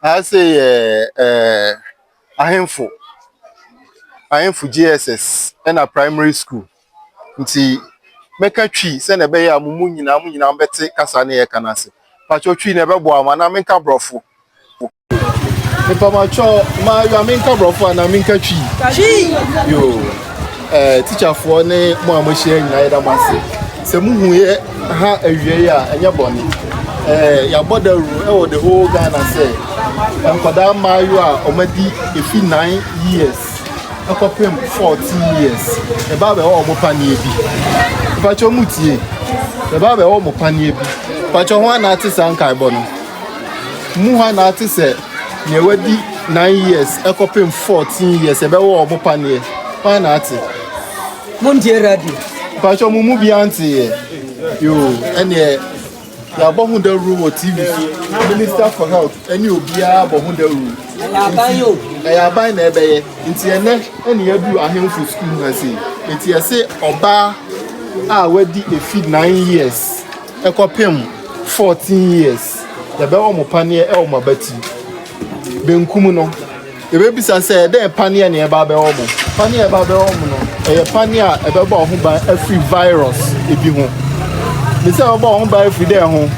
Aha sei yɛ ahemfo, ahemfo JSS na primary school. Nti mɛka Twi sɛdeɛ ɛbɛyɛ a mo mu nyinaa mo nyinaa bɛte kasa ne yɛka no ase. Patwɔ Twi na ɛbɛboa mo anaa menka borɔfo? Mepamɔtwɔ, maayewa menka borɔfo anaa menka Twi? Twi! Yoo. Eh, tikyafoɔ ne mo a moahyia nyinaa yɛda mo ase sɛ mohuiɛ ha awiei a ɛnyɛ bɔne eh, yɛabɔ dawuro ɛwɔ the whole ghana sɛ nkɔdaa mmaayewa a ɔmadi ɛfi 9 years ɛkɔpem 14 years ɛbaa bɛwɔ ɔmo paneɛ bi mpakyɛ mu tie ɛbaa bɛwɔ ɔmo paneɛ bi mpakyɛ ho anaate saa nkaebɔ no mu ha na te sɛ nea wadi nine years ɛkɔpem fourteen years ɛbɛwɔ ɔmo paneɛ hɔ na ate. mo ntie radio. mpatsɔ mo mu bi anteeɛ yoo ɛneɛ yɛabɔ ho dawuro wɔ tv so minister for health ɛne obiara bɔ ho dawuro ɛyɛ aban na ɛbɛyɛ nti ɛnɛ ɛne yɛadu ahemfo sukuu ha sei nti ɛse ɔbaa a wadi efi nine years kɔpem fourteen years yɛbɛyɛ wɔn paneɛ wɔ wɔn abati benkum no yɛbɛbisa sɛ ɛdɛn paneɛ na ɛba abɛwɔ wɔn paneɛ ɛba abɛwɔ wɔn no ɛyɛ paneɛ a ɛbɛbɔ wɔn ho ban afiri virus ebi ho ne sɛ ɛbɛbɔ wɔn ho ban afiri dɛn ho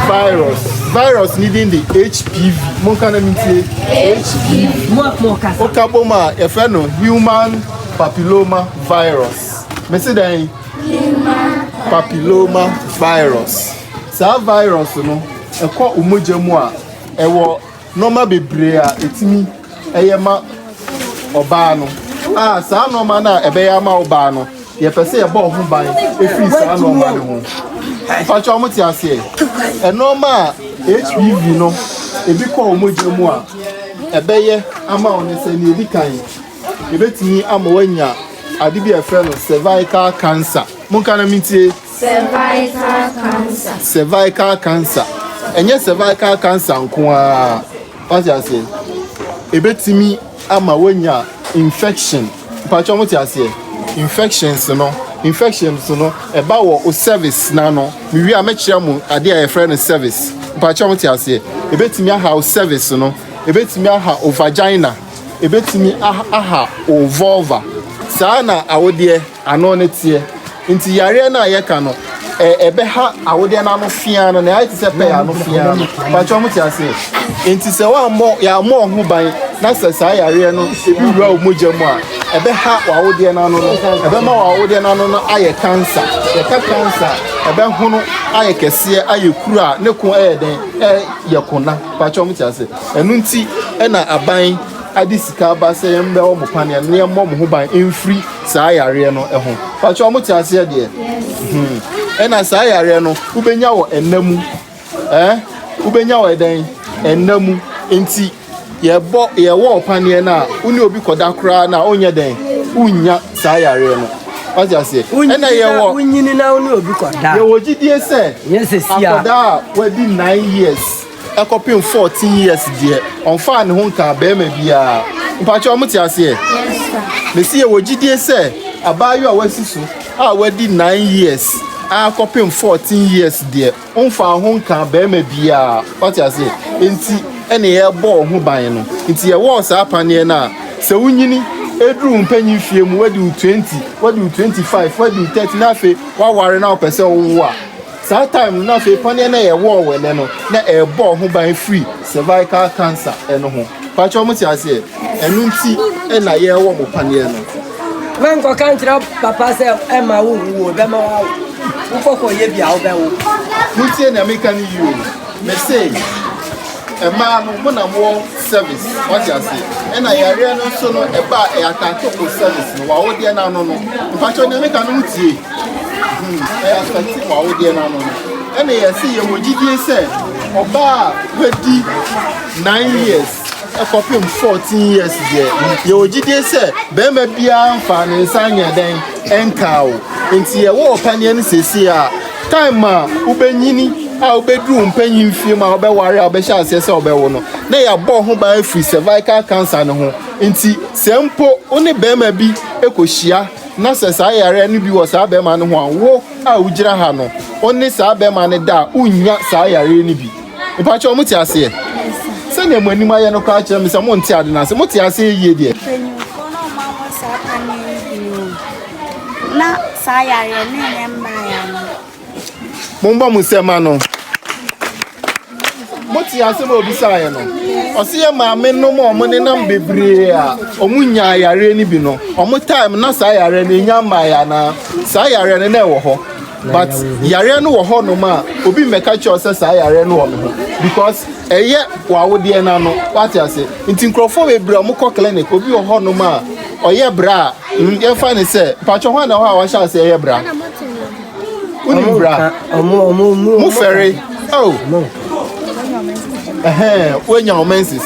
virus virus ne din de hpv monka na mentie hpv woka bom a yɛfrɛ no human papilloma virus mese dɛn papiloma virus saa virus no ɛkɔ omogya mu a ɛwɔ nɔɔma bebree a ɛtumi ɛyɛ ma ɔbaa no a saa nɔɔma no a ɛbɛyɛ ama ɔbaa no yɛpɛ sɛ yɛbɔ ɔho ban ɛfiri saa nɔɔma no ho mpakyɛ ɔmo te aseɛ ɛnɔɔma a hpv no ebi kɔ omogya mu a ɛbɛyɛ ama ɔno sɛ nea ɛdi kan Yɛbɛtumi ama wanya ade bi a ɛfrɛ no cervical cancer. Monka na mentie. Cervical cancer. Cervical cancer. Ɛnyɛ cervical cancer nko ara. Wate aseɛ? Ɛbɛtumi ama wanya infection. Mpakyɛ mo te aseɛ? Infections no. Infections no. Ɛba wɔ o service na no. Mewie a mɛkyerɛ mo ade a yɛfrɛ no service. Mpakyɛ mo te aseɛ? Ɛbɛtumi aha o service no. Ɛbɛtumi aha o vagina. ɛbɛtumi aha wo vulva. Saa na awodeɛ ano no teɛ. Nti yareɛ no a yɛka no, ɛbɛha awodeɛ no ano fea no, na ɛayɛ te sɛ pɛɛ ano fea no. Pakyɛ ɔmo te aseɛ. Nti sɛ wammɔ, yɛammɔ ɔho ban, na sɛ saa yareɛ no ebi wura wo mogya mu a, ɛbɛha w'awodeɛ no ano no, ɛbɛma w'awodeɛ no ano no ayɛ cancer. Yɛka cancer a, ɛbɛhono ayɛ kɛseɛ, ayɛ kuru a ne ko ɛyɛ dɛn, ɛyɛ kona. Pakyɛ ɔmo te aseɛ. Ɛno nti na aban de sika aba sɛ yɛmmrɛ wɔn mo paneɛ na yɛmmɔ mo ho ban mfiri saa yareɛ no ho. Pakyɛ wɔn te aseɛ deɛ. Hmm. Ɛna saa yareɛ no wobɛnya wɔ ɛna mu. Eh? Wobɛnya wɔ ɛdɛn? Ɛna mu. Nti yɛbɔ yɛwɔ ɔpaneɛ no a wo ne obi kɔda koraa na onyɛ dɛn? Wonnya saa yareɛ no. Wate aseɛ? Ɛna yɛwɔ wonyini na wo ne obi kɔda. Yɛwɔ gyidie sɛ akɔda a wadi nine years. ɛkɔpem fourteen years deɛ ɔmfaa ne ho nkaa barima biara mpakyɛ ɔmo te aseɛ mesi yɛ wɔ gyidie sɛ abaayewa a wasi so a wadi nine years a kɔpem fourteen years deɛ ɔmfaa ho nkaa barima biara ɔte aseɛ nti ɛne yɛbɔ ɔho ban no nti yɛwɔ saa paneɛ no a sɛ wonyini eduru mpanyin fie mu wadi twenty wadi twenty five wadi thirty na afei waware na ɔpɛ sɛ ɔwo a Saa time no na afei paneɛ no a yɛwɔ wɔ ɛnɛ no na ɛrebɔ ho ban firi cervical cancer ɛno ho pakyɛ wɔn te aseɛ ɛno nti ɛna yɛwɔ mo paneɛ no. Mɛ nkɔka nkyerɛ papa sɛ ɛma wo hu wo bɛma wo awo wokɔkɔ yɛ bi a wobɛwo. Mo tie nea meka no yio mɛ sɛ ɛmaa no mo na mo service wɔte aseɛ ɛna yareɛ no nso no ɛba ɛyɛ atake mo service no wawodeɛ no ano no mpakyɛ nea meka no mo tie. ɛyɛ afɛte wɔ awodeɛ no ano no ɛna yɛsi yɛ wɔ gyidie sɛ ɔbaa a wadi nine years ɛkɔpem fourteen years deɛ yɛ wɔ gyidie sɛ bɛrima biara nfa ne nsa nyɛ dɛn ɛnkaa o nti yɛ wɔ ɔpaneɛ no sɛsi a time a wobɛnyini a wobɛduru mpanyin fie ma wobɛware a wobɛhyɛ aseɛ sɛ wobɛwo no na yɛabɔ ho ban afiri cervical cancer no ho nti sɛ mpo wo ne bɛrima bi ɛkɔhyia na sɛ saa yareɛ no bi wɔ saa bɛrima no ho a, wo a wogyina ha no, wo ne saa bɛrima no da a, wonnya saa yareɛ no bi. Mepa kyɛw, mote aseɛ? Sɛdeɛ mo anim ayɛ no koraa kyerɛ me sɛ monte ade no ase. Mote aseɛ yie deɛ? Mpanyinfoɔ no a wɔahu saa paneɛ yi bi no, na saa yareɛ no nyɛ mmaa yare. mommɔ mo nsɛm ano mote asɛm a obisaeɛ no ɔse yɛ maame nom a ɔmo nenam bebree a ɔmo nya yareɛ no bi no ɔmo time na saa yareɛ no enya mmaeɛ anaa saa yareɛ no na ɛwɔ hɔ but yareɛ no wɔ hɔ nom a obi mmɛka kyerɛ sɛ saa yareɛ no wɔ me ho because ɛyɛ w'awodeɛ no ano wate ase nti nkurɔfoɔ bebree ɔmo kɔ clinic obi wɔ hɔ nom a ɔyɛ bra a yɛmfa ne sɛ patwɛ hɔ na hɔ a wɔahyɛ ase ɛyɛ bra. Wonim bra. Mo fɛre. Oh. Woanya wo menses.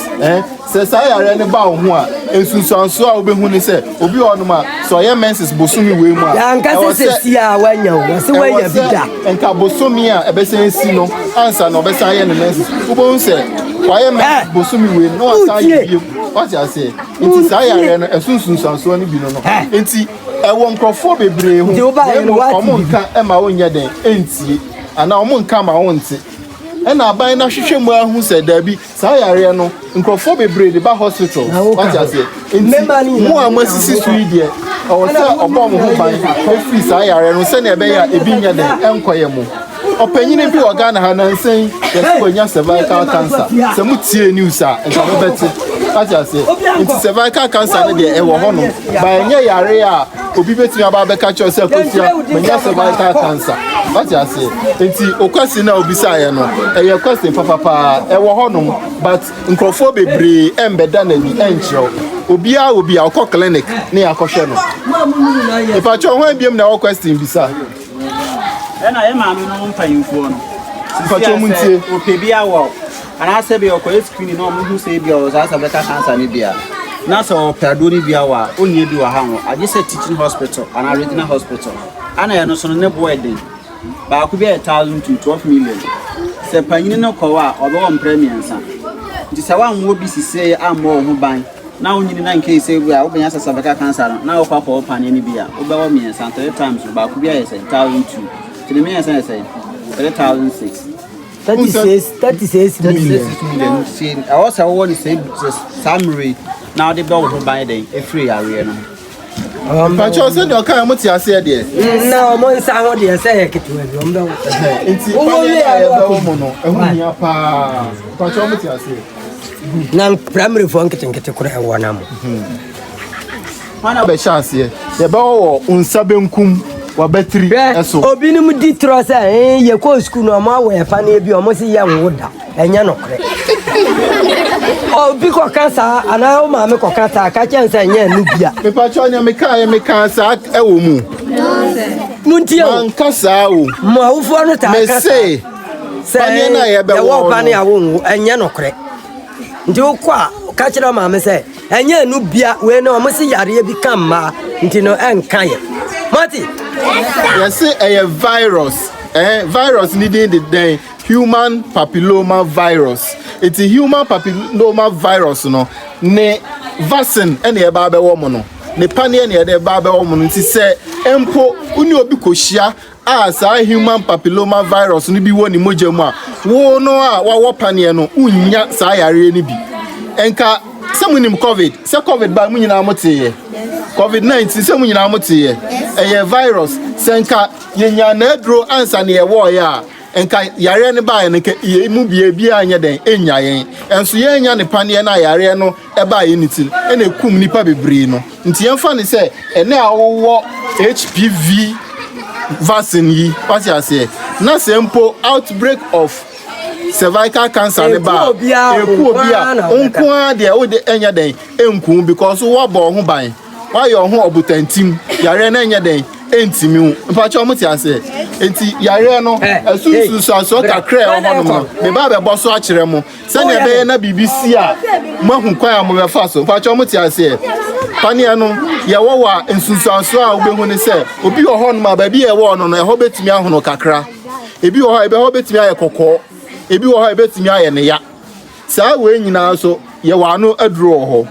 Sɛ saa yareɛ no ba wo ho a, nsunsuansoɔ a wobɛhu ne sɛ obi wɔ nom a sɛ ɔyɛ menses bosome wei mu a. Yɛanka sɛ sɛ si a woanya wo, wɔse woanya bi da. Nka bosome a ɛbɛsan si no ansa na ɔbɛsan yɛ ne menses. Wobɛhu sɛ wayɛ menses bosome wei mu na wasan yɛ bio. Wate aseɛ? Nti saa yareɛ no ɛso nsunsuansoɔ no bi no no. Nti Ɛwɔ nkurɔfoɔ bebree ho, na mmom wɔn nka ma wonyɛ dɛn ntie, anaa wɔn nka ma wonte. Ɛna aban no ahwehwɛ mu ahu sɛ daabi, saa yareɛ no, nkurɔfoɔ bebree de ba hospital, wate aseɛ. Nti, mo a moasisi so yi deɛ, ɛwɔ sɛ ɔbɔ mo ho ban firi saa yareɛ no sɛdeɛ ɛbɛyɛ a ebi nyɛ dɛn nkɔyɛ mo. Ɔpanyin bi wɔ Ghana ha nansa yi yɛsɛ wanya cervical cancer sɛ mo tie news a nka mo bɛte ate aseɛ nti cervical cancer no deɛ ɛwɔ hɔ no ba ɛnyɛ yare a obi bɛtumi aba abɛka kyerɛ sɛ kosua manya cervical cancer ate aseɛ nti o question a obisaeɛ no ɛyɛ question papa paa ɛwɔ hɔ nom but nkurɔfoɔ bebree ɛmbɛda n'ani ɛnkyerɛw obiara wɔ bi a ɔkɔ clinic ne akɔhwɛ no mepatwɛ ho abiam na ɛwɔ question bisa ɛna yɛ maame no mpanyinfoɔ no mpakyɛ mu ntie ɔpɛ bi awɔ anaasɛ bi ɔkɔyɛ screen na ɔmo hu sɛ bi ɔwɔ saa sɛ bɛka cancer no bia na sɛ ɔpɛ aduo no bi awɔ a ɔnyɛ bi wɔ ha ho agye sɛ teaching hospital anaa regional hospital ana ɛno so no ne boɔ ɛden baako bi a thousand to twelve million sɛ panyini no kɔwɔ a ɔbɛwɔ mprɛ mmiɛnsa nti sɛ woammɔ bi sisee ammɔ wo ho ban na wo nyini na nkei sɛ bi a wobɛnya sɛ sɛ bɛka cancer no na wokɔ akɔ wo paneɛ no bi a wobɛwɔ mmiɛnsa three times no baako bi ayɛ sɛ thousand two nti ne mmiɛnsa yɛ sɛ three thousand six thirty six thirty six million ɛwɔ sɛ wowɔ ne sɛ saa mmiri na wode bɛ wo ho ban dɛn ɛfiri yareɛ no Mpakyɛ ɔsɛ deɛ ɔka ɛmo te aseɛ deɛ. Na ɔmo nsa ho deɛ sɛ yɛ ketewa bi ɔmo bɛwo. Nti paneɛ yɛ a yɛbɛwo mo no ɛho hia paa. Mpakyɛ ɔmo te aseɛ. Na primary foɔ nketenkete kora ɛwɔ na mo. Paneɛ bɛhyɛ aseɛ yɛbɛwɔ wɔ nsa benkum wabatiri ɛso. Obinom di torɔ sɛ yɛkɔɔ sukuu no ɔmo awɔ yɛ paneɛ bi ɔmo se yɛnwo da. Ɛnyɛ nokorɛ. Obi kɔka saa anaa wo maame kɔka saa ka kyɛn sɛ ɛnyɛ ɛno bia. Mepakyɛw nea mekaeɛ mekaa saa ɛwɔ mu. Montie o. Manka saa o. Mo awofoɔ no taa ka saa. Mese paneɛ no a yɛbɛwɔ no. Yɛwɔ paneɛ a wonwo ɛnyɛ nokorɛ. Nti wokɔ a ka kyerɛ maame sɛ ɛnyɛ ɛno bia wei no wɔn se yareɛ bi ka mmaa nti no ɛnka yɛ. Mati. Yɛse ɛyɛ virus. Eh, virus ni din de dɛn? Human papiloma virus, eti human papiloma virus no ne vaccine ɛna ɛba abɛwɔ mo no, ne paneɛ na ɛde ɛba abɛwɔ mo no, nti sɛ mpo wo ne obi kɔhyia a saa human papiloma virus no bi wɔ ne mogya mu a, wo no a wawɔ paneɛ no, wonnya saa yareɛ no bi. Nka sɛ mo nim covid, sɛ covid ba mo nyinaa mo teeɛ, covid 19 sɛ mo nyinaa mo teeɛ, ɛyɛ virus, sɛ nka yɛnya n'aduro ansa na yɛwɔɔyɛ a, Nka yareɛ no baeɛ no, nka yei mu bia biaa nyɛ dɛn nnya yɛn, nso yɛannya ne paneɛ no a yareɛ no baeɛ no ti no na ɛkum nnipa bebree no. Nti yɛmfa no sɛ ɛnɛ a wowɔ HPV vaccine yi, wate aseɛ, na sɛ mpo outbreak of cervical cancer no ba ɛku obi a, wo nko ara deɛ wode ɛnyɛ dɛn ɛnku because woabɔ wo ho ban. Wayɛ ɔho ɔbotantim yareɛ no ɛnyɛ dɛn ɛntimi wo mpakyɛ ɔmo te aseɛ nti yareɛ no ɛso nsunsuansoɔ kakra ɛwɔ hɔ nom no meba abɛbɔ so akyerɛ mo sɛnea ɛbɛyɛ na biribi si a moahu kwan a mobɛfa so mpakyɛ ɔmo te aseɛ paneɛ no yɛwɔ wɔ a nsunsuansoɔ a wobɛhu ne sɛ obi wɔ hɔ nom a baabi a ɛwɔ no no ɛhɔ bɛtumi ahono kakra ebi wɔ hɔ a ɛbɛhɔ bɛtumi ayɛ kɔkɔɔ ebi wɔ hɔ a ɛbɛtumi ayɛ ne ya Saa wei nyinaa nso, yɛwɔ ano aduro wɔ hɔ.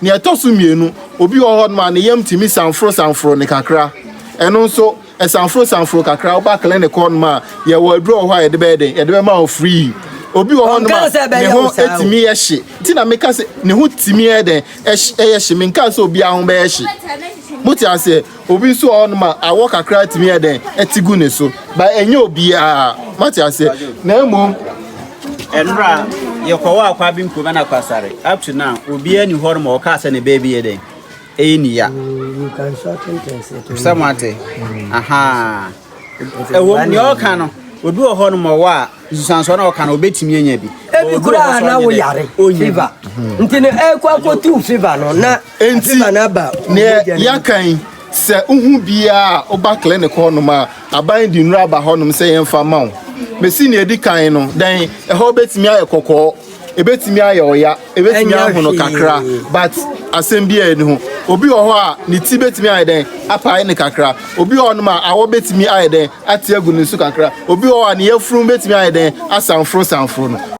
Nea ɛtɔ so mmienu, obi wɔ hɔnom a ne yam tumi sanforosanforo no kakra. Ɛno nso, ɛsanforosanforo kakra a, woba clinic hɔnom a, yɛwɔ aduro wɔ hɔ a yɛde bɛyɛ dɛn? Yɛde bɛma wo free. Obi wɔ hɔnom a, ne ho tumi yɛ hye. Nti na meka sɛ, ne ho tumi yɛ dɛn? Yɛ hye. Menkaa sɛ obiara ho bɛyɛ hye. Mote aseɛ? Obi nso wɔ hɔnom a, awɔ kakra tumi yɛ dɛn? Ɛte gu ne so. Ba ɛnyɛ obiara. Moate aseɛ? Na mmom. Ɛnora yɛkɔwɔ akwa bi nkurom na kwasare. Up to now, obiara ni hɔnom a ɔkaa sɛ ne bɛ bi yɛ dɛn? Ɛyɛ ne ya. Sɛ moate? Ahaa. Ɛwom, nea ɔreka no, obi wɔ hɔ nom ɔwɔ a, nsusuansoɔ na ɔka no, obetumi anya bi. Ebi koraa na woyare fever. Nti no, ɛkɔ akɔtu fever no na fever no aba. Nea yɛaka yi, sɛ wohu biara a woba clinic hɔnom a, aban de nnuro aba hɔnom sɛ yɛmfa ma wo. Mesi nea edi kan no, dɛn, ɛhɔ betumi ayɛ kɔkɔɔ. Ebetumi ayɛ wo ya, ebetumi Ɛnyɛ ahono hwee. kakra, but asɛm biara nni ho. Obi wɔ hɔ a, ne ti betumi ayɛ dɛn? Apae no kakra. Obi wɔ hɔnom a, awɔ betumi ayɛ dɛn? Ate agu ne so kakra. Obi wɔ hɔ a, ne yafunu betumi ayɛ dɛn? Asanforosanforo no.